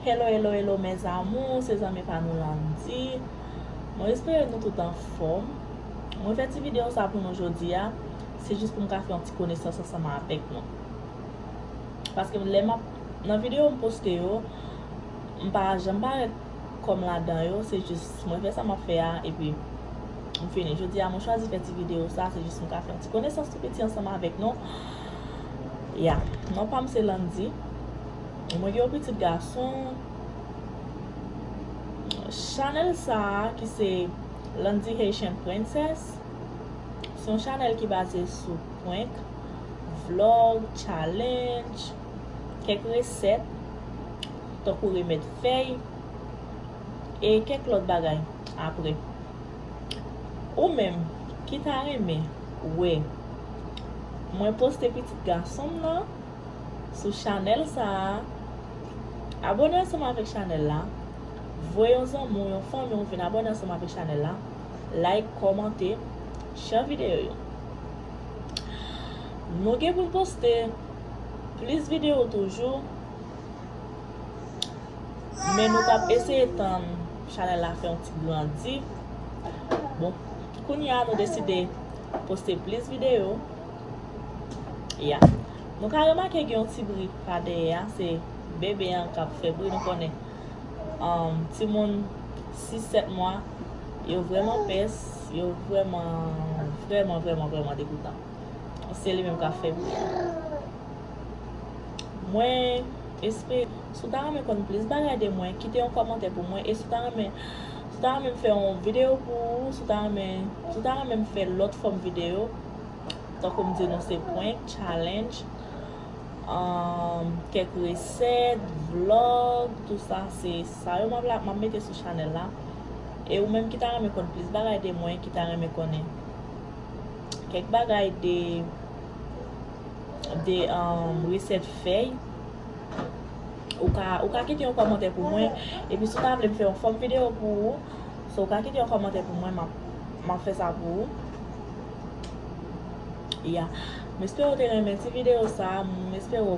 Hello hello hello mes amours se zanmi pa nou Landy mwen espere nou tout anfòm mwen fè ti video sa pou nou jodia se jis pou m ka fè yon ti konesans ansanm avèk nou paske m lè m ap nan video m poste yo m pa janm parèt kòm ladan yo se jis mwen fè sa m ap fè a epi M fini. Jodi a mwen chwazi fè ti video sa, se jis m ka fè yon ti konesans tou piti ansanm avèk nou. Ya. Non pa m se Landy. Mwen gen yon pitit gason. Chanèl sa ki se Landy Haitian Princess, se yon chanèl ki baze sou prank, vlog, challenge, kèk resèt, tankou remèd fèy. e kèk lòt bagay apre. Ou menm ki ta renmen wè mwen poste pitit gason m nan sou chanèl sa a, abòne ansanm avèk chanèl la, voye yon zanmi w, yon fanmi w vin abòne ansanm avèk chanèl la, like, kòmante, share videyo yo. Nou gen pou n poste plis videyo toujou. Men nou tap eseye tann chanèl la fè yon ti grandi. Bon, kounye a nou deside poste plis videyo. Ya. Nou ka remake gen yon ti bri pa dèyè a, se bebe an kap fè bri nou konnen. Um, ti moun 6, 7 mwa, yo vreman pès, yo vreman, vreman, vreman, vreman degoutan. Se li menm kap fè bri a. Mwen espre Si w ta renmen konn plis bagay de mwen Kite yon kòmantè pou mwen E si w ta renmen Si w ta renmen m fè yon video pou ou Si w ta renmen Si w ta renmen m fè lòt fòm video Tankou m di nou se prank, challenge Kèk resèt, vlog Tout sa se sa yo m ap mete sou chanèl la E ou menm ki ta renmen konn plis bagay de mwen Ki ta renmen konnen Kèk bagay de de resèt fèy ou ka ou ka kite yon kòmantè pou mwen epi si ou ta vle m fè yon fòm videyo pou ou so ou ka kite yon kòmantè pou mwen m ap fè sa pou ou ya m espere ou te renmen ti videyo sa m espere ou